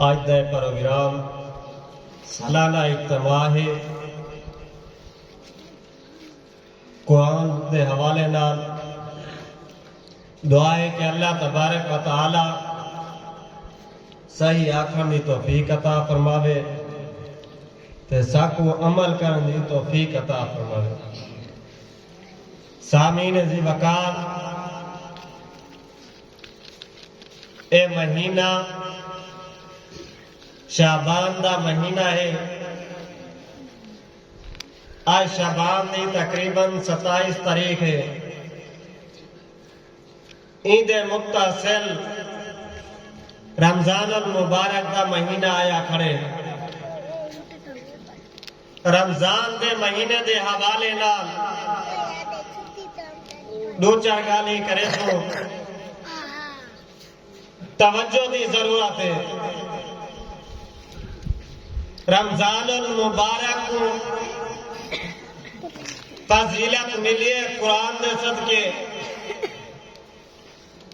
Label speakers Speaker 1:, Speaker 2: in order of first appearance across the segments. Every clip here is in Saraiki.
Speaker 1: اج دا پروگرام سالانہ اجتماع ہے۔ قرآن دے حوالے نال دعا ہے کہ اللہ تبارک و تعالی صحیح آکھݨ دی توفیق عطا فرماوے تے ساکوں عمل کرݨ دی توفیق عطا فرماوے۔ سامعین ذی وقار اے مہینہ شعبان دا مہینہ ہے۔ اج شعبان دی تقریبا ستائیس تاریخ ہے۔ ایندے متصل رمضان المبارک دا مہینہ آیا کھڑے۔ رمضان دے مہینے دے حوالے نال ݙو چار ڳالھیں کریسوں۔ توجہ دی ضرورت اے۔ رمضان المبارک کوں فضیلت ملی اے قرآن دے صدقے۔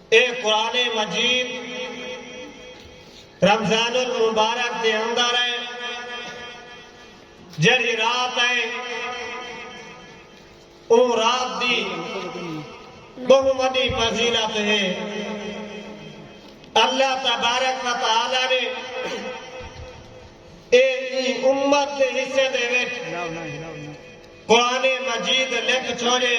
Speaker 1: اے قرآن مجید رمضان المبارک دے اندر اے جیڑھی رات اے۔ او رات دی بہوں وڈی فضیلت ہے۔ اللہ تبارک و تعالی نے اے ایں امت دے حصے دے وچ قرآن مجید لکھ چھوڑے۔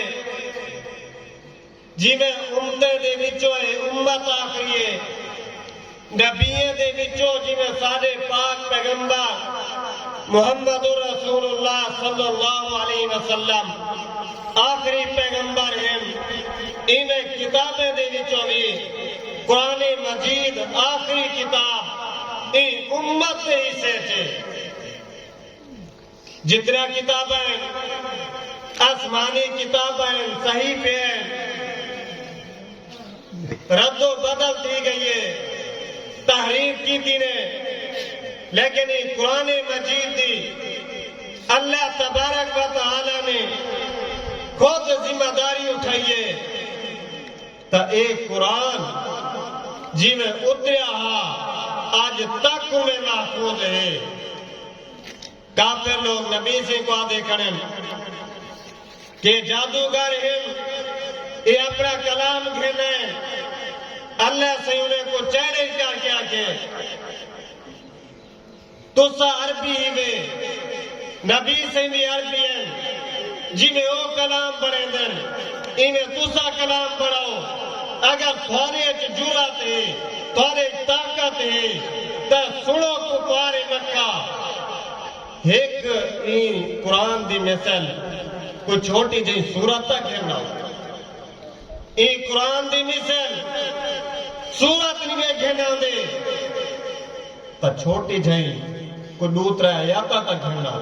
Speaker 1: جیویں امتیں دے وچوں اے امت آخری اے، نبیاں دے وچوں جیویں ساڈے پاک پیغمبر محمد الرسول اللہ صلی اللہ علیہ وسلم آخری پیغمبر ہن، ایویں کتابیں دے وچوں وی قرآن مجید آخری کتاب ایں امت دے حصے اچ اے۔ جتنیاں کتاباں ہن آسمانی کتاباں ہن صحیفے ہن رد و بدل تھی گئی ہے تحریف کیتی نے لیکن ایں قرآن مجید دی اللہ تبارک و تعالی نے خود ذمہ داری اٹھائی ہے تا اے قرآن جیویں اتریا ہا اج تک اوویں محفوظ ہے کافر لوگ نبی سئیں کوں آہدے کھڑن کہ ایہ جادوگر ہن، ایہ اپݨا کلام گھن آئے۔ اللہ سئیں انھاں کوں چیلنج کر کے آکھے، تساں عربی ہیوے، نبی سئیں وی عربی ہن، جیویں او کلام بݨیندن، ایویں تساں کلام پڑھاؤ، اگر تھوارے اچ جرات ہے، تھوارے اچ طاقت ہے تاں سنڑو کفار مکہ ہک ایں قرآن دی مثل کوئی چھوٹی جہیں سورت تاں گھن آؤ۔ ایں قرآن دی مثل سورت نی وے گھن آندے تاں چھوٹی جہیں کوئی ڈو ترے آیاتاں تاں گھن آؤ۔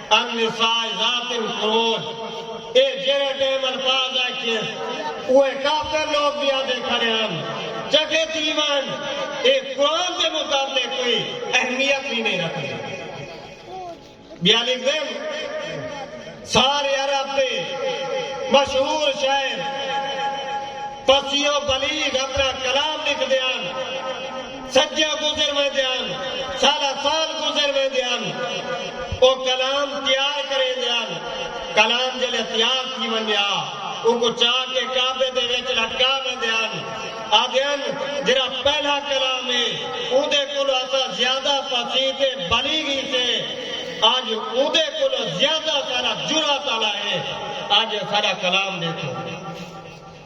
Speaker 1: النساء ذات القرون اے جیڑھے ٹیم الفاظ آکھیس اوہے کافر لوگ وی آہدے کھڑے ہن چگے تھی ونج اے قرآن دے متعلق کوئی اہمیت وی نئیں رکھدے بیالی ذم سارے عرب دے مشہور شاعر فصیح و بلیغ اپنا کلام لکھدے ہن۔ صدیاں گزر ویندے ہن، سالاں سال گزر ویندے ہن، او کلام تیار کریندے ہن، کلام جلے تیار تھی ونجے ہا اونکوں چا کے کعبے دے وچ لٹکا ویندے ہن، آہدے ہن جیرھا پہلا کلام ہے اوندے کولو اساں زیادہ فصیح تے بلیغ ہیسے، اج اوندے کولو زیادہ سارا جرات آلا ہے، اج ساڈا کلام ڈیکھو۔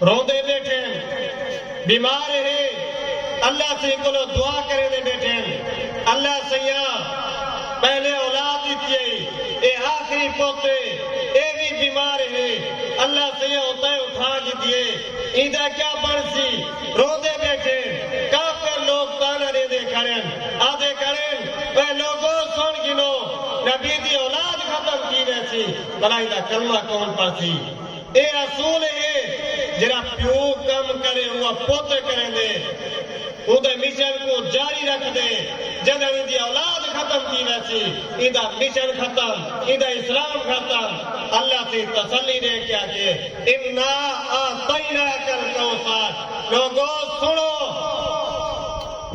Speaker 1: روندے ٻیٹھن۔ بیمار ہے۔ اللہ سئیں کولو دعا کریندے ٻیٹھن۔ اللہ سئیاں! پہلے اولاد ݙتی ہئی۔ اے آخری پت ہے۔ اے وی بیمار ہے۔ اللہ سئیاں اتاں ای اٹھا گھدی ہے۔ ایندا کیا بݨسی؟ روندے ٻیٹھن۔ کافر لوک طعنہ ݙیندے کھڑن۔ آہدے کھڑن، اے لوکو! سݨ گھنو۔ نبی دی اولاد ختم تھی ویسی۔ بھلا ایندا کلمہ کون پڑھسی؟ اے اصول اے جیرھا پیو کم کرے اونواں پتر کریندے اوندے مشن کوں جاری رکھدے جڈن ایندی اولاد ختم تھی ویسی ایندا مشن ختم ایندا اسلام ختم اللہ تھیں تسلی ڈے کے آکھیے انا اعطیناک الکوثر لوگو سنڑو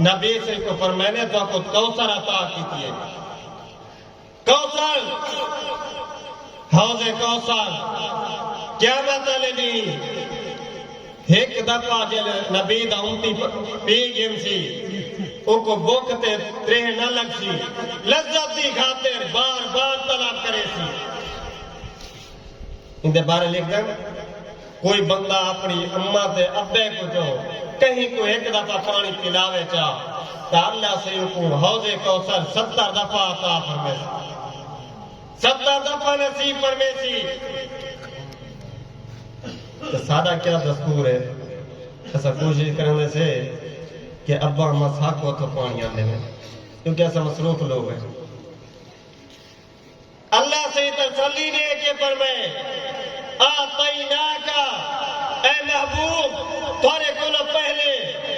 Speaker 1: نبی صلی کوں فرمائینے تہاکوں کوثر عطا کیتیے۔ کوثر، حوض کوثر قیامت آلے ڈینہہ ہک دفعہ جیلھ نبی دا امتی پی گھنسی اوکوں بکھ تے تریہہ نہ لگسی لذت دی خاطر بار بار طلب کریسی۔ ایندے بارے لکھدن، کوئی بندہ اپݨی اماں تے ابے کوں جو کہیں کوں ہک دفعہ پاݨی پلاوے چا تاں اللہ سئیں اونکوں حوض کوثر ستر دفعہ عطا فرمیسی۔ ستر دفعہ نصیب فرمیسی۔ تے ساݙا کیا دستور اے، اساں کوشش کریندے سے کہ ابا اماں ساکوں اتھوں پاݨی آندے وین کیونکہ اساں مصروف لوک ہیں۔ اللہ سئیں تسلی ݙے کے فرمائے، اعطیناک، اے محبوب! تہاݙے کولھوں پہلے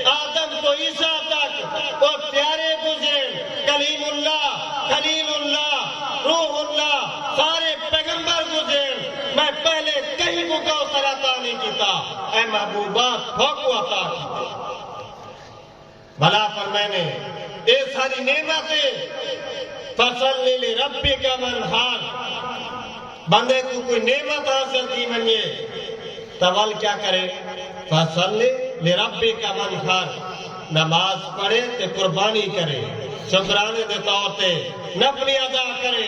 Speaker 1: آدم توں عیسی تک او پیارے گزرین، کلیم اللہ، خلیل اللہ، روح اللہ، سارے پیغمبر گزرین، میں پہلے کہیں کوں کوثر عطا نھیں کیتا، اے محبوبا! تھوکوں عطا کیتے۔ بھلا فرمائے نے اے ساری نعمت ہے فصل لے ربی کا من حال بندے کو کوئی نعمت حاصل تھی منگے تو ول کیا کرے فصل لے ربی کا من حال نماز پڑھے تے قربانی کرے شکرانے دے طور تے نفلی ادا کرے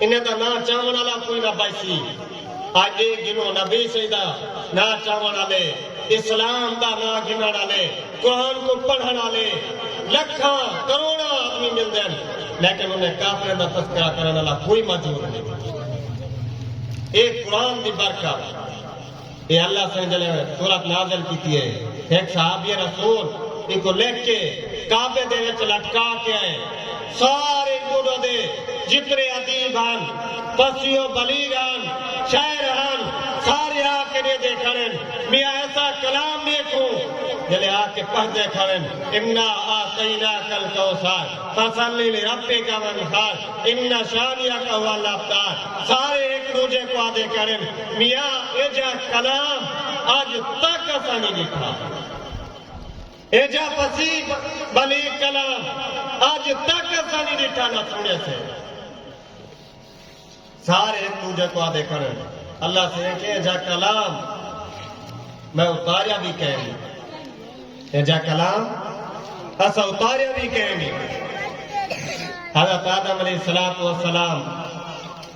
Speaker 1: انہاں دا ناں چاوݨ آلا کوئی نہ بچسی۔ اڄ اے گھنوں نبی ص دا ناں چاوݨ آلے، اسلام دا ناں گھنݨ آلے، قرآن کوں پڑھݨ آلے لکھاں کروڑاں آدمی ملدن لیکن انہیں کافراں دا تذکرہ کرݨ آلا کوئی موجود نئیں۔ اے قرآن دی برکت۔ اے اللہ سئیں جلے سورت نازل کیتی اے ہک صحابی رسول اینکوں لکھ کے کعبے دے وچ لٹکا کے اے سارے ڈوڈو دے جتنے ادیب ہن فصیح و بلیغ ہن شاعر ہن سارے آ کے ڈیدے کھڑن میاں ایسا کلام ڈیکھوں جلے آ کے پڑھدے کھڑن انا اعطیناک الکوثر فصل لربک وانحر ان شانئک هو الابتر سارے ہک ڈوجھے کوں آدھے کھڑن میاں ایجھا کلام اج تک اساں نی ڈیٹھا۔ ایجھا فصیح بلیغ کلام اج تک اساں نی ڈیٹھا نہ سنڑیا سے۔ سارے ہک ڈوجھے کوں آدھے کھڑن اللہ سئیں کے ایجھا کلام میں اتاریا وی کینی۔ ایجھا کلام اساں اتاریا وی کینی۔ حضرت آدم علیہ السلام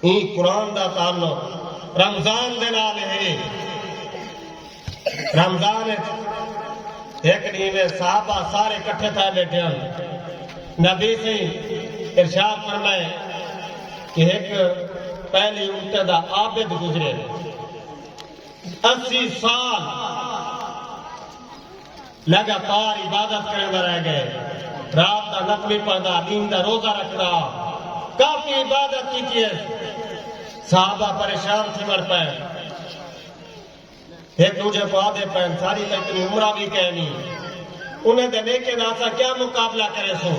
Speaker 1: ایں قرآن دا تعلق رمضان دے نال ہے۔ رمضان اچ ہک ݙینہ تے صحابہ سارے کٹھے تھئے ٻیٹھے ہن۔ نبی سئیں ارشاد فرمائے کہ ہک پہلی امتیں دا عابد گزرے اسی سال۔ لگاتار عبادت کریندا رہ گئے۔ رات دا نفلی پڑھدا، دین دا روزہ رکھدا۔ کافی عبادت کیتی ہس۔ صحابہ پریشان تھیوݨ پئے۔ ہک ݙوجھے کوں آہدے پئے ہن ساݙی تاں اتنی عمراں وی کینی۔ انھاں دے نیکیں دا اساں کیا مقابلہ کریسوں۔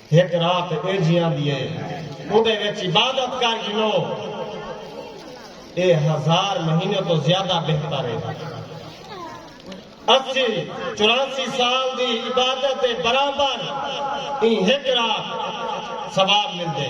Speaker 1: ہک رات ایجھی آندی ہے اوندے وچ عبادت کر گھنو اے ہزار مہینے توں زیادہ بہتر ہے۔ اسی چوراسی سال دی عبادت دے برابر ایں ہک رات ثواب ملدے۔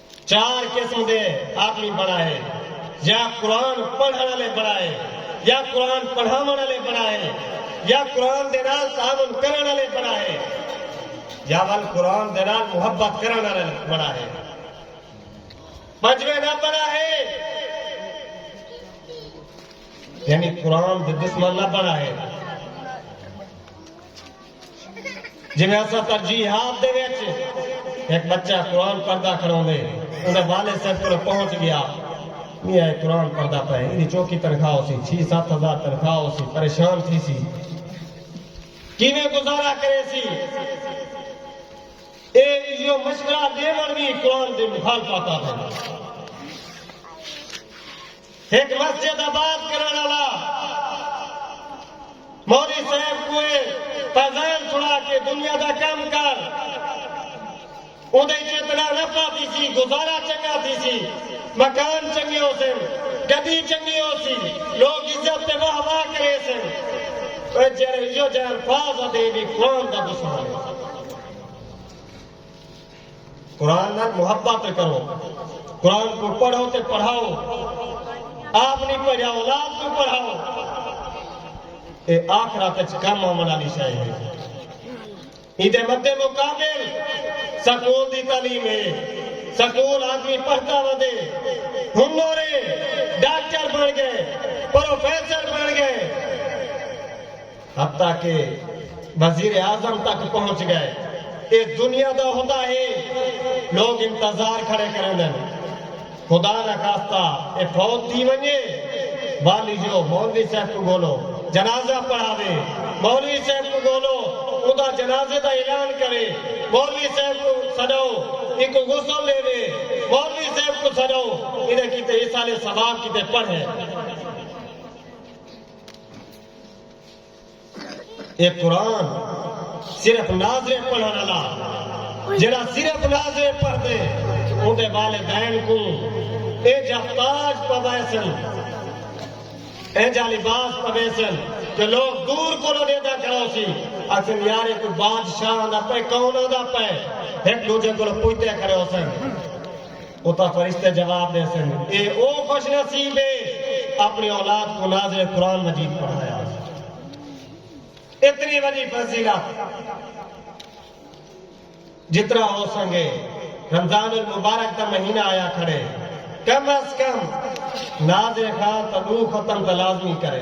Speaker 1: چار قسم دے آدمی بݨائے، یا قرآن پڑھݨ آلے بݨائے، یا قرآن پڑھاوݨ آلے بݨائے، یا قرآن دے نال تعاون کرݨ آلے بݨائے، یا ول قرآن دے نال محبت کرݨ آلے بݨائے۔ پنجویں نہ بݨائے، یعنی قرآن دے دشمن نہ بݨائے۔ جیویں اساں ترجیحات دے وچ ہک بچہ قرآن پڑھدا کھڑوندے اوندے والد صاحب کولو پہنچ گیا میاں اے قرآن پڑھدا پئے ایندی چوکھی تنخواہ ہوسی چھی ست ہزار تنخواہ ہوسی پریشان تھیسی کیویں گزارا کریسی اے ایہو مشورہ ڈیوݨ وی قرآن دی مخالفت آہدن۔ ہک مسجد آباد کرݨ آلا مولوی صاحب کوئے فیضان سݨا کے دنیا دا کم کر اوندے اچ اتنا نفع تھیسی گزارا چنگا تھیسی مکان چنگے ہوسن گڈی چنگی ہوسی لوک عزت تے واہ واہ کریسن اوہ جیہڑے ایہو جہے الفاظ آندے اے وی قرآن دا دشمن اے۔ قرآن نال محبت تے کرو قرآن کو پڑھو تے پڑھاؤ آپ نہیں پڑھیا اولاد کو پڑھاؤ اے آخرت وچ کم آون والی شے ہے ایندے مد مقابل سکول دی تعلیم ہے سکول آدمی پڑھتا ودے ہنر ڈاکٹر بن گئے پروفیسر بن گئے حتی کہ وزیر اعظم تک پہنچ گئے۔ اے دنیا دا ہوندا ہے لوگ انتظار کھڑے کریندن خدا نا خاصتا اے فوت تھی ونجے والی جو مولوی صاحب کوں گولو جنازہ پڑھاوے مولوی صاحب کوں گولو اوندا جنازے دا اعلان کرے مولوی صاحب کوں سڈاؤ اینکوں غسل ڈیوے مولوی صاحب کوں سڈاؤ ایندے کیتے ایصال ثواب کیتے پڑھے۔ اے قرآن صرف ناظریں پڑھن آلا جیڑا صرف ناظریں پڑھدے اوندے والدین کوں اینجھا تاج پویسن اینجھا لباس پویسن کہ لوگ دور کولو ڈیدا کھڑوسی اکھن یار اے کوئی بادشاہ آندا پئے کون آندا پئے ہک ڈوجھے کولو پوچھدے کھڑے ہوسن اتا فرشتے جواب ڈیسن، اے او خوش نصیب ہے اپنی اولاد کوں ناظر قرآن مجید پڑھایا ہوسی۔ اتنی وڈی فضیلت جتنا ہو سنگے رمضان المبارک دا مہینہ آیا کھڑے کم از کم ناظر خان تا دو ختم تا لازمی کرے۔